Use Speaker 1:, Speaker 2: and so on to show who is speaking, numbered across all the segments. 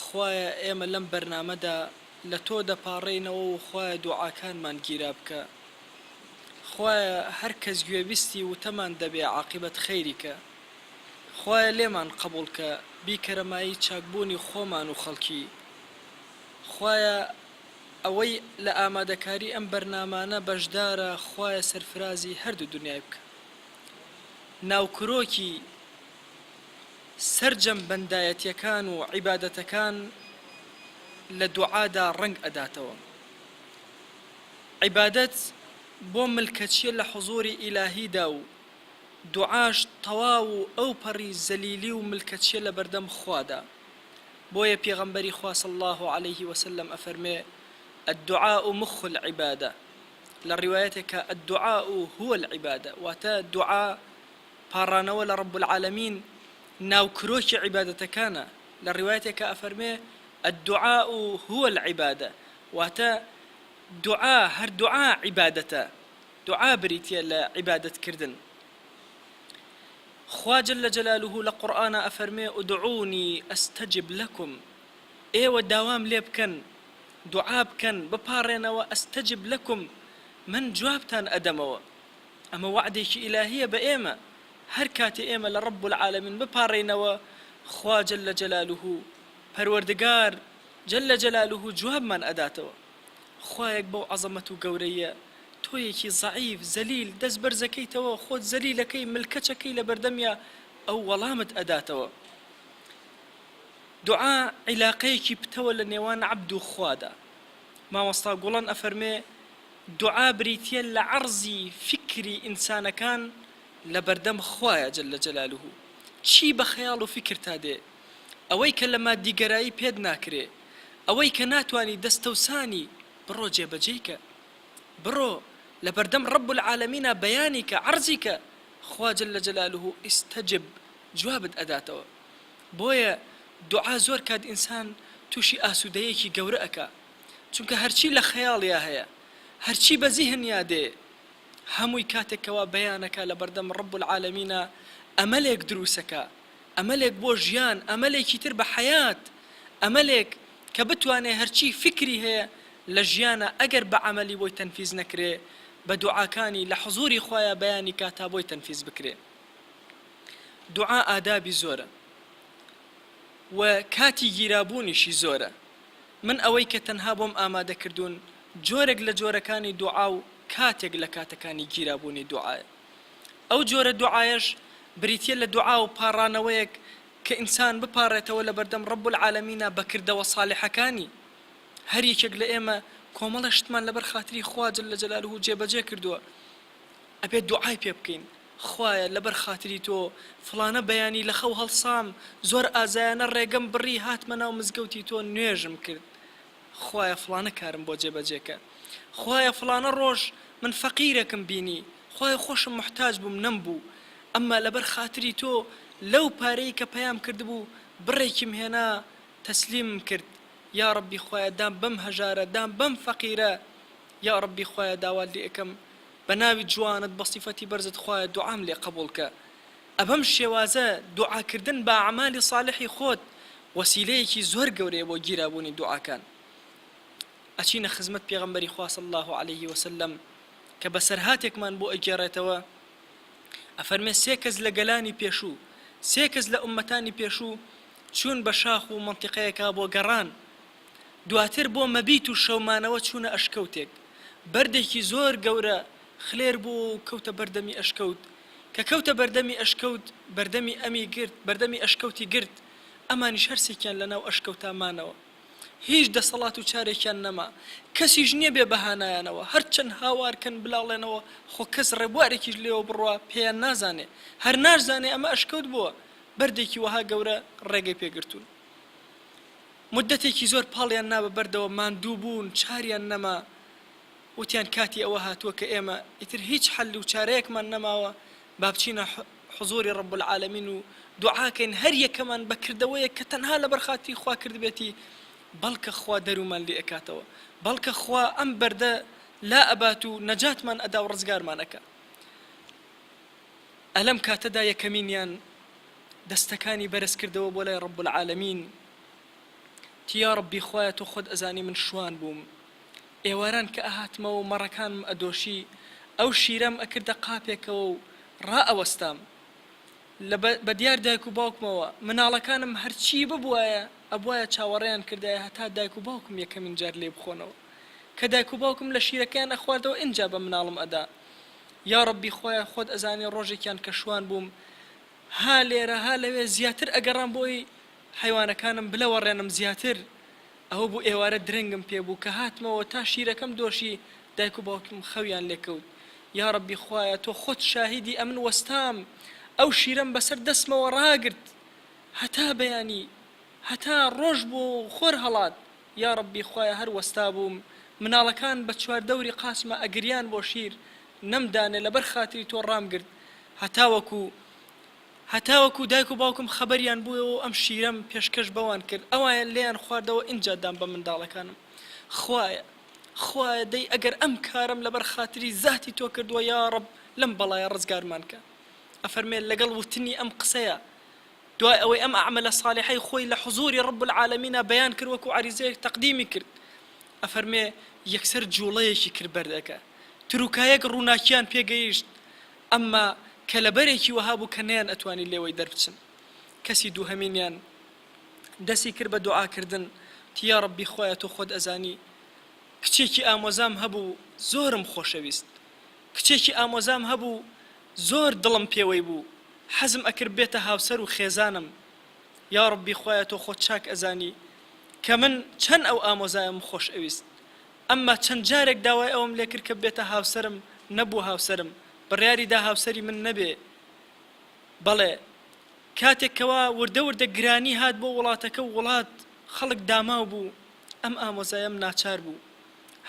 Speaker 1: خوایە ئێمە لەم بەرنامەدا لە تۆ دەپاڕێینەوە و خوایە دوعاکانمان گیرا بکە خوایە هەر کەس گوێبیستی وتەمان دەبێ عاقیبەت خەیری کە خوایە لێمان قەبوڵ کە بیکەرە مایەی چاکبوونی خۆمان و خەڵکی خوایە ئەوەی لە ئامادەکاری ئەم بەرنامانە بەشدارە خوایە سەرفرازی هەردوو دونیای بکە ناوکرۆکی سەرجەم بەندایەتیەکان و عیبادەتەکان لە دوعادا ڕەنگ ئەداتەوە عیبادەت بۆ ملکەچیە لە حوزوری ئیلاهیدا و دوعاش تەواو و ئەوپەڕی زەلیلی و ملکەچیە لەبەردەم خوادا بۆیە پێغەمبەری خوا صلی اللە علیە وسلم ئەفەرمێ الدعاء مخ العبادە لە ڕیوایەتێکا الدعاء هو العبادە واتە دوعا پاڕانەوە لە رب العالمین ناوکرۆکی عیبادەتەکانە، لە ڕیوایەتێکا ئەفەرمێ، الدعاء هو العبادە، واتە، دوعا، هەر دوعا عیبادەتە، دوعا بریتیە لە عیبادەت کردن. خوا جل جلالە لە قورئانا ئەفەرمێ، ادعونی استجب لکم، ئێوە داوام لێ بکەن، دوعا بکەن، بپاڕێنەوە، استجب لکم، من جوابتان ئەدەمەوە. ئەمە وەعدێکی ئیلاهییە بە ئێمە، هەر کاتێ ئێمە لە رب العالمین بپاڕێینەوە، خوا جل جلاله، پەروەردگار جل جلاله، جوابمان ئەداتەوە. خوایەک بەو عەزەمەت و گەورەییە، تۆیەکی زەعیف، زەلیل، دەست بەرزەکەیتەوە، خۆت زەلیل ئەکەی، ملکەچ ئەکەی لە بەردەمیا، ئەو وەڵامت ئەداتەوە. دوعا عیلاقەیەکی پتەوە لە نێوان عەبد و خوادا. مامۆستا گوڵەن ئەفەرمێ دوعا بریتیە لە عەڕزی فیکری ئینسانەکان لە بەردەم خوایە جل جلالە چی بە خەیاڵ و فیکرتا دێ ئەوەی کە لە مادیگەرایی پێت ناکرێ ئەوەی کە ناتوانی دەستەوسانی بڕۆ جێبەجێی کە بڕۆ لە بەردەم رب العالمینا بەیانی کە عەڕزی کە خوا جل جلالە استجب جوابت ئەداتەوە بۆیە دوعا زۆر کات ئینسان توشی ئاسودەیەکی گەورە ئەکا چونکە هەرچی لە خەیاڵیا هەیە هەرچی بە زیهنیا دێ هەمووی کاتێک کەوا بیانەکا لەبەردەم رب العالمینا ئەمەلێک دروسەکا ئەمەلێک بۆ ژیان ئەمەلێکی تر بە حەیات ئەمەلێک کە بتوانێ هەرچی فیکری هەیە لە ژیانا ئەگەر بە عەمەلی بۆی تەنفیز نەکرێ بە دوعاکانی لە حزوری خوایا بیانی کا تا بۆی تەنفیز بکرێ دوعا ئادابی زۆرە و کاتی گیرابوونیشی زۆرە من ئەوەی کە تەنها بۆم ئامادە کردوون جۆرێک لە جۆرەکانی دوعا و کاتێک لە کاتەکانی گیرابوونی دوعایە ئەو جۆرە دوعایەش بریتیە لە دوعا و پاڕانەوەیەک کە ئینسان بپاڕێتەوە لە بەردەم رب العالمینە بە کردەوە ساڵحەکانی هەر یەکێک لە ئێمە کۆمەڵێ شتمان لەبەر خاتری خوا جل جلاله جێبەجێ کردووە ئەبێت دوعای پێ بکەین خوایە لەبەر خاتری تۆ فڵانە بەیانی لە خەو هەڵسام زۆر ئازایانە ڕێگەم بڕی هاتمە ناو مزگەوتی تۆ نوێژم کرد خوایە فڵانە کارم بۆ جێبەجێ کە خوایە فڵانە ڕۆژ من فەقیرەکم بینی خوایە خۆشم موحتاج بووم نەم بوو ئەمما لەبەر خاتری تۆ لەو پارەی کە پەیام کردبوو بڕێکیم هێنا تەسلیمم کرد یاڕەبی خوایە دام بەم هەژارە دام بەم فەقیرە یا ڕەبی خوایە داوات لێ ئەکەم بە ناوی جوانت بە سیفەتی بەرزت خوایە دوعام لێ قەبوڵ کە ئەبەم شێوازە دوعا کردن بە ئەعمالی ساڵحی خۆت وەسیلەیەکی زۆر گەورەیە بۆ گیرا بوونی دوعاکان ئەچینە خزمەت پێغەمبەری خوا صلی اللە علیه وسلم کە بەسەرهاتێکمان بۆ ئەگێڕێتەوە ئەفەرمێ سێ کەس لە گەلانی پێشوو سێ کەس لە ئومەتانی پێشوو چوون بە شاخ و منتیقەیەکا بۆ گەڕان دواتر بۆ مەبیت و شەو مانەوە چوونە ئەشکەوتێک بەردێکی زۆر گەورە خلێر بوو و کەوتە بەر دەمی ئەشکەوت کە کەوتە بەردەمی ئەشکەوت بەردەمی ئەمی گرت بەردەمی ئەشکەوتی گرت ئەمانیش هەرسێکیان لە ناو ئەشکەوتا مانەوە هیچ دەسەڵات و چارێکیان نەما کەسیش نیە بێ بەهانایانەوە هەرچەند هاوار کەن بلاڵێنەوە خۆ کەس ڕێبوارێکیش لێوە بڕوا پێیان نازانێ هەر ناشزانێ ئەمە ئەشکەوت بووە بەردێکی وەها گەورە ڕێگەی پێ گرتوون موددەتێکی زۆر پاڵیان نا بە بەردەوە ماندوو بوون چاریان نەما وتیان کاتی ئەوە هاتووە کە ئێمە ئیتر هیچ حەل و چارەیەکمان نەماوە با بچینە حزوری رب العالمین و دوعا کەین هەر یەکەمان بە کردەوەیەک کە تەنها لەبەر خاتری خوا کردبێتی بەڵکە خوا دەرومان لێ ئەکاتەوە بەڵکە خوا ئەم بەردە لا ئەبات و نەجاتمان ئەدا و رزگارمان ئەکا ئەلەم کاتەدا یەکەمینیان دەستەکانی بەرز کردەوە بۆ لای رب العالمین تی یاڕەبی خوایە تۆ خۆت ئەزانی من شوان بووم ئێواران کە ئەهاتمەوەو مەڕەکانم ئەدۆشی ئەو شیرەم ئەکردە قاپێکەوەو ڕا ئەوەستام لە بە دیار دایک و باوکمەوە مناڵەکانم هەرچی ببوایە ئەبوایە چاوەڕێیان کردایە هەتا دایک و باوکم یەکەمین جار لێی بخۆنەوە کە دایک و باوکم لە شیرەکەیان ئەخواردەوە ئینجا بە مناڵم ئەدا یاڕەبی خوایە خۆت ئەزانی ڕۆژێکیان کە شوان بووم ها لێرە ها لەوێ زیاتر ئەگەڕام بۆی حەیوانەکانم بلەوەڕێنم زیاتر ئەوە بوو ئێوارە درەنگم پێ بوو کە هاتمەوە تا شیرەکەم دۆشی دایک و باوکیم خەویان لێ کەوت یاڕەبی خوایە تۆ خۆت شاهیدی ئەمن وەستام ئەو شیرەم بەسەر دەستمەوە ڕاگرت هەتا بەیانی هەتا ڕۆژ بوو و خۆر هەڵات یاڕەبی خوایە هەر وەستابووم مناڵەکان بە چوار دەوری قاسمە ئەگریان بۆ شیر نەم دانێ لەبەر خاتری تۆ ڕامگرت هەتاوەکو هەتاوەکو دایک و باوکم خەبەریان بووەوە و ئەم شیرەم پێشکەش بەوان کرد، ئەوان لێیان خواردەوە ئینجا دام بە منداڵەکانم. خوایە، خوایە دەی ئەگەر ئەم کارەم لەبەر خاتری زاتی تۆ کردووە یاڕەب لەم بەڵایە ڕزگارمان کە. ئەفەرمێ لەگەڵ وتنی ئەم قسەیە دوای ئەوەی ئەم ئەعمەلە صالحەی خۆی لە حزووری رب العالمینا بەیان کرد وەکو عەریزەیەک تەقدیمی کرد ئەفەرمێ یەکسەر جووڵەیەکی کرد بەردەکە تروکایەک ڕووناکییان پێ گەیشت ئەمما کەلەبەرێکی وەها بوو کە نەیان ئەتوانی لێوەی دەربچن کەسی دووهەمینیان دەسی کرد بە دوعاکردن وتی یاڕەبی خوایە تۆ خۆت ئەزانی کچێکی ئامۆزام هەبوو زۆرم خۆشەویست کچێکی ئامۆزام هەبوو زۆر دڵم پێوەی بوو حەزم ئەکرد بێتە هاوسەر و خێزانم یاڕەبی خوایە تۆ خۆت چاک ئەزانی کە من چەن ئەو ئامۆزایەم خۆشئەویست ئەمما چەند جارێک داوای ئەوەم لێ کرد کە بێتە هاوسەرم، نەبووە هاوسەرم، بڕیاری دا هاوسەری من نەبێ، بەڵێ، کاتێک کەوا وردە وردە گرانی هات بۆ وڵاتەکە و وڵات، خەڵک داماو بوو، ئەم ئامۆزایەم ناچار بوو،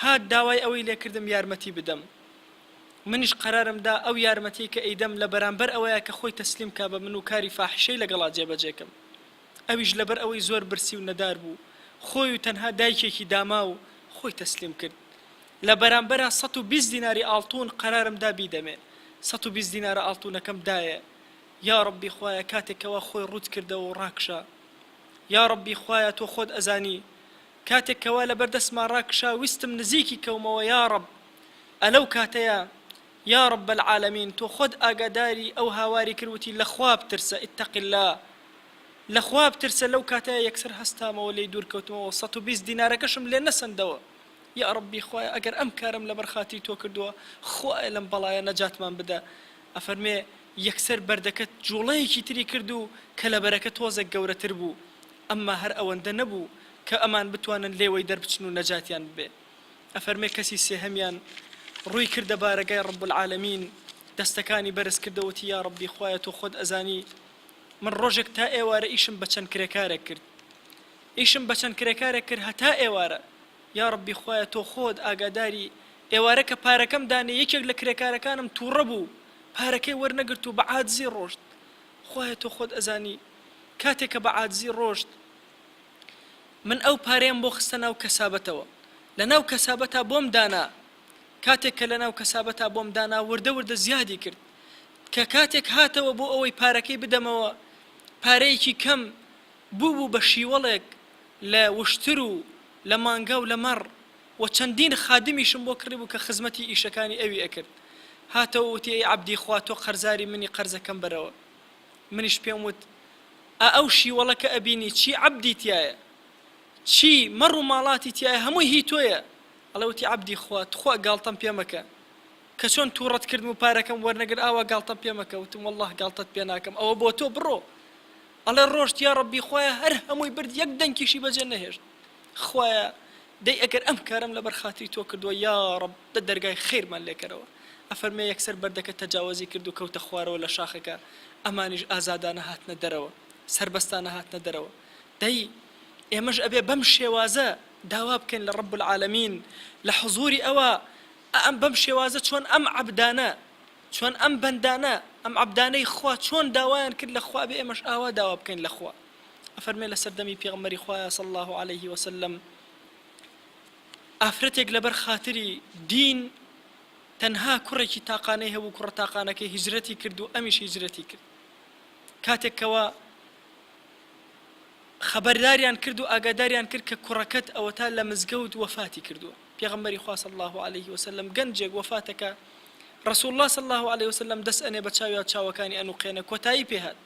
Speaker 1: هات داوای ئەوەی لێ کردم یارمەتی بدەم. منیش قەرارم دا ئەو یارمەتیەی کە ئەیدەم لە بەرامبەر ئەوەیە کە خۆی تەسلیم کا بە من و کاری فاحیشەی لەگەڵا جێبەجێ کەم. ئەویش لەبەر ئەوەی زۆر برسی و نەدار بوو خۆی و تەنها دایکێکی داماو خۆی تەسلیم کرد لە بەرامبەرا سەد و بیست دیناری ئاڵتوون قەرارم دا بیدەمێ سەد و بیست دینارە ئاڵتوونەکەم دایێ یاڕەبی خوایە کاتێک کەوا خۆی ڕووت کردەوە و ڕاکشا یاڕەبی خوایە تۆ خۆت ئەزانی کاتێک کەوا لەبەر دەستما ڕاکشا ویستم نزیکی کەومەوە یاڕەب ئەلەو کاتەیا یا رب العالمین تۆ خۆت ئاگاداری ئەو هاواری کرد وتی لە خوا بترسە اتق اللە لە خوا بترسە لەو کاتەیا یەکسەر هەستامەوە لێی دوور کەوتمەوە سەد و بیست دینارەکەشم لێ نەسەندەوە یا ربی خوایە ئەگەر ئەم کارەم لەبەر خاتری تۆ کردووە خوایە لەم بەڵایە نەجاتمان بدە ئەفەرمێ یەکسەر بەردەکە جوڵەیەکی تری کرد و کەلەبەرەکە تۆزێک گەورەتر بوو ئەمما هەر ئەوەندە نەبوو کە ئەمان بتوانن لێوەی دەربچن و نەجاتیان ببێ. ئەفەرمێ کەسی سێهەمیان ڕووی کردە بارەگای ڕەب العالمین دەستەکانی بەرز کردە وتی یا ڕەبی خوایە تۆ خۆت ئەزانی من ڕۆژێک تا ئێوارە ئیشم بە چەند کرێکارێک کرد ئیشم بە چەند کرێکارێک کرد هەتا ئێوارە یا ڕەبی خوایە تۆ خۆت ئاگاداری ئێوارە کە پارەکەم دانێ یەکێک لە کرێکارەکانم تووڕە بوو پارەکەی وەرنەگرت و بە عادزی ڕۆشت خوایە تۆ خۆت ئەزانی کاتێک کە بە عادزی ڕۆشت من ئەو پارەیەم بۆ خستە ناو کەسابەتەوە لە ناو کەسابەتا بۆم دانا کاتێک کە لە ناو کەسابەتا بۆم دانا وردە وردە زیادی کرد کە کاتێک هاتەوە بۆ ئەوەی پارەکەی بدەمەوە پارەیەکی کەم بوو بوو بە شیوەڵێک لە وشتر و لە مانگا و لە مەڕ و چەندین خادمیشم بۆ کڕیبوو کە خزمەتی ئیشەکانی ئەوی ئەکرد هاتەوە وتی ئەی عەبدی خوا تۆ قەرزاری منی قەرزەکەم بەرەوە منیش پێم وت، ئا ئەو شیوەڵە کە ئەبینی چی عەبدی تیایە، چی مەڕ و ماڵاتی تیایە هەمووی هی تۆیە؟ ئەڵێ وتی، عەبدی خوا، تخوا گاڵتەم پێ مەکە، کە چۆن تووڕەت کردم و پارەکەم وەرنەگرت ئاوا گاڵتەم پێ مەکە، وتم، وەڵڵاهی گاڵتەت پێ ناکەم، ئەوە بۆ تۆ، بڕۆ. ئەڵێ ڕۆشت، یا ڕەبی خوایە هەر هەمووی برد یەک دەنکیشی بەجێ نەهێشت. خوایە دەی ئەگەر ئەم کارەم لەبەر خاتری تۆ کردووە یاڕەب دە دەرگای خەیرمان لێکەرەوە ئەفەرمێ یەکسەر بەردەکە تەجاوەزی کرد و کەوتە خوارەوە لە شاخەکە ئەمانیش ئازادانە هاتنە دەرەوە سەربەستانە هاتنە دەرەوە دەی ئێمەش ئەبێ بەم شێوازە داوا بکەین لە ڕەب العالمین لە حزوری ئەوە ئەم بەم شێوازە چۆن ئەم عەبدانە چۆن ئەم بەندانە ئەم عەبدانەی خوا چۆن داوایان کرد لە خوا بێ ئێمەش ئاوا داوا بکەین لە خوا ئەفەرمێ لەسەر دەمی پێغمبەری خوایە صلی اللە علیه وسلم ئافرەتێک لەبەر خاتری دین تەنها کوڕێکی تاقانەی هەبوو کوڕە تاقانەکەی هیجرەتی کرد و ئەمیش هیجرەتی کرد کاتێکەوە خەبەرداریان کرد و ئاگاداریان کرد کە کوڕەکەت ئەوە تا لە مزگەوت وەفاتی کردووە پێغمبەری خواص الله عليه وسلم گەنجێک وەفاتەکە رسول الله صلى الله عليه وسلم دەست ئەنێ بە چاویا چاوەکانی ئەنوقێنە کۆتایی پێهات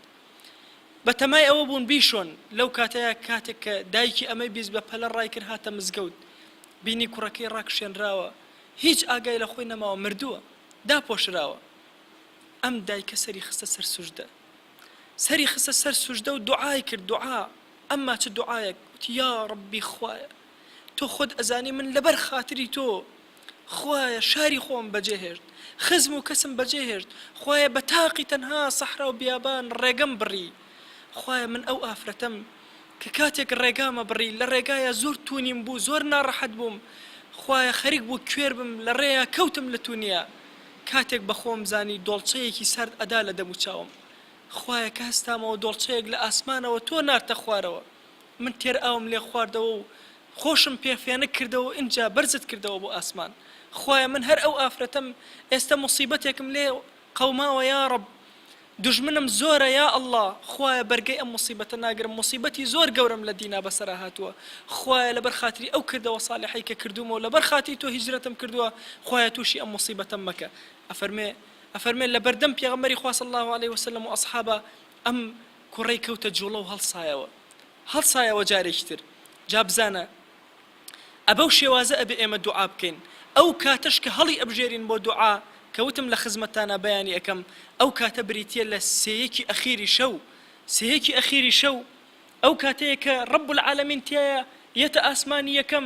Speaker 1: بە تەمای ئەوە بوون بیشۆن، لەو کاتەیا کاتێک کە دایکی ئەمەی بیست بە پەلە ڕای کرد هاتە مزگەوت بینی کوڕەکەی ڕاکشێنراوە هیچ ئاگای لە خۆی نەماوە مردووە داپۆشراوە ئەم دایکە سەری خستە سەر سوژدە سەری خستە سەر سوژدە و دوعای کرد دوعا ئەمما چ دوعایەک وتی یا ڕەبی خوایە تۆ خۆت ئەزانی من لەبەر خاتری تۆ خوایە شاری خۆم بەجێ هێشت خزم و کەسم بەجێ هێشت خوایە بە تاقی تەنها سەحرا و بیابان ڕێگەم بڕی خوایە من ئەو ئافرەتەم کە کاتێک ڕێگامە بڕی لە ڕێگایا زۆر توونیم بوو زۆر ناڕەحەت بووم خوایە خەریک بوو کوێر بم لە ڕێیا کەوتم لە توونیا کاتێک بە خۆم زانی دۆڵچەیەکی سارد ئەدا لە دەموچاوم خوایە کە هەستامەوە دۆڵچەیەک لە ئاسمانەوە تۆ نارتە خوارەوە من تێر ئاوم لێ خواردەوە و خۆشم پێ فێنک کردەوە و ئینجا بەرزت کردەوە بۆ ئاسمان خوایە من هەر ئەو ئافرەتەم ئێستە موسیبەتێکم لێ قەوماوە یاڕەب دوژمنم زۆرە یا اللە خوایە بەرگەی ئەم موسیبەتە ناگرم موسیبەتی زۆر گەورەم لە دینا بەسەرا هاتووە خوایە لەبەر خاتری ئەو کردەوە سالحەی کە کردوومە و لەبەر خاتری تۆ هیجرەتم کردووە خوایە توشی ئەم موسیبەتەم مەکە ئەفەرمێ ئەفەرمێ لەبەردەم پێغەمبەری خوا صلی اللە علیە وسلم و اصحابا ئەم کوڕەی کەوتە جوڵە و هەڵسایەوە. هەڵسایەوە جارێکی تر. جا بزانە ئەبەو شێوازە ئەبێ ئێمە دوعا بکەین. ئەو کاتەش کە هەڵی ئەبژێرین بۆ دوعا، کە وتم لە خزمەتتانا بەیانی ئەکەم، ئەو کاتە بریتییە لە سێیەکی ئەخیری شەو. سێیەکی ئەخیری شەو ئەو کاتەیە کە رب العالمین تیایا یەتە ئاسمانی یەکەم،